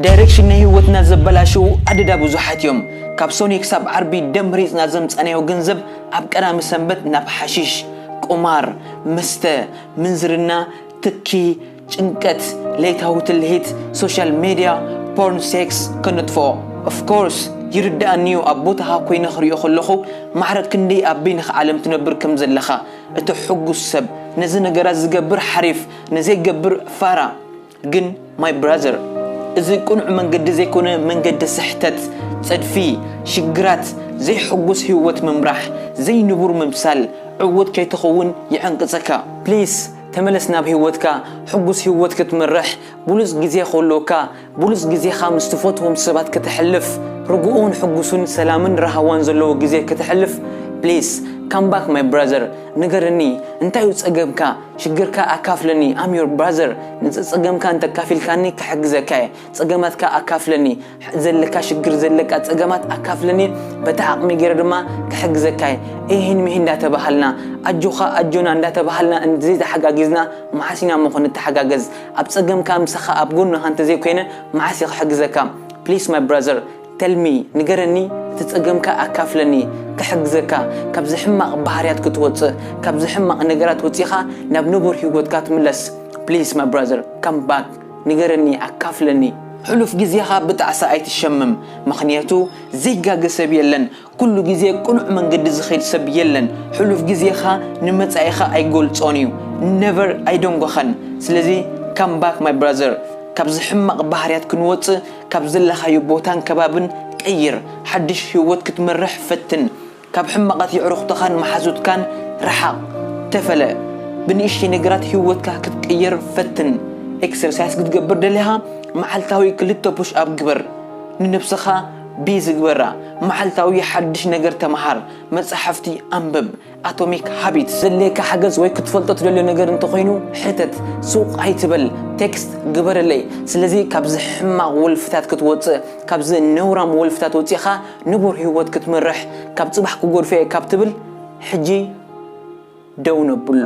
ዳይረክሽን ናይ ሂወትና ዘበላሸዉ ኣደዳ ብዙሓት እዮም ካብ ሶኒ ክሳብ ዓርቢ ደም ሪጽና ዘምጻናዮ ገንዘብ ኣብ ቀዳሚ ሰንበት ናብ ሓሺሽ ቁማር መስተ ምንዝርና ትኪ ጭንቀት ለይታዊ ትልሂት ሶሻል ሜድያ ፖርን ሴክስ ከነጥፍኦ of course ይርድኣኒ እዩ ኣብ ቦታኻ ኮይነ ክሪኦ ከለኹ ማዕረ ክንደይ ኣብ በይንኻ ዓለም ትነብር ከም ዘለኻ እቲ ሕጉስ ሰብ ነዚ ነገራት ዝገብር ሓሪፍ ንዘይገብር ፋራ ግን my brother እዚ ቅኑዕ መንገዲ ዘይኮነ መንገዲ ስሕተት ጸድፊ ሽግራት ዘይሕጉስ ሂወት ምምራሕ ዘይንቡር ምምሳል ዕውት ከይትኸውን ይዕንቅጸካ please ተመለስ ናብ ሂወትካ ሕጉስ ሂወት ክትመርሕ ብሉጽ ግዜ ክህልወካ ብሉጽ ግዜኻ ምስ ትፈትዎም ሰባት ከተሕልፍ ርጉኡን ሕጉሱን ሰላምን ራሃዋን ዘለዎ ግዜ ከተሕልፍ please come back my brother ንገረኒ እንታዩ ጸገምካ ሽግርካ ኣካፍለኒ I'm your brother ንጸጸገምካ እንተካፊልካኒ ክሕግዘካ እየ ጸገማትካ ኣካፍለኒ ዘለካ ሽግር ዘለቃ ጸገማት ኣካፍለኒ በታ ዓቅመይ ገይረ ድማ ክሕግዘካ እየ ኢሂን ሚሂን እንዳተባሃልና ኣጆካ ኣጆና እንዳተባሃልና እንተዘይ ተሓጋጊዝና መዓስ ኢና እሞ ክንተሓጋገዝ ኣብ ጸገምካ ምሳካ ኣብ ጎንካ እንተዘይ ኮይነ መዓስ እየ ክሕግዘካ please my brother Tell me ንገረኒ እቲ ጸገምካ ኣካፍለኒ ክሕግዘካ ካብዚ ሕማቅ ባህርያት ክትወጽእ ካብዚ ሕማቅ ነገራት ወጺካ ናብ ንቡር ሂወትካ ትምለስ please my brother come back ንገረኒ ኣካፍለኒ ሕሉፍ ግዜካ ብጣዕሳ ኣይትሸምም ምክንያቱ ዘይጋገ ሰብ የለን ኩሉ ግዜ ቅኑዕ መንገዲ ዝኸይድ ሰብ የለን ሕሉፍ ግዜኻ ንመጻኢኻ ኣይገልጾን እዩ never ኣይደንጎኻን ስለዚ come back my brother ካብዚ ሕማቕ ባህርያት ክንወጽእ ካብ ዘለኻዮ ቦታን ከባብን ቀይር ሓድሽ ሂወት ክትመርሕ ፈትን ካብ ሕማቓት የዕሩኽትኻን መሓዙትካን ርሓቕ ተፈለ ብንእሽተይ ነገራት ሂወትካ ክትቅይር ፈትን ኤክሰርሳይስ ክትገብር ደሊኻ መዓልታዊ ክልተ ፑሽ ኣፕ ግበር ንነብስኻ ብዝግበራ መዓልታዊ ሓድሽ ነገር ተመሃር፣ መጻሕፍቲ ኣንብብ፣ ኣቶሚክ ሃቢትስ። ዘድልየካ ሓገዝ ወይ ክትፈልጦ ትደልዮ ነገር እንተኾይኑ ሕተት፣ ሱቕ ኣይትበል፣ ቴክስት ግበረለይ። ስለዚ ካብዚ ሕማቕ ወልፍታት ክትወጽእ፣ ካብዚ ነውራም ወልፍታት ወጺእኻ ንቡር ህይወት ክትመርሕ፣ ካብ ጽባሕ ክጎድፎ'የ ካብ ትብል ሕጂ ደው ነብሎ።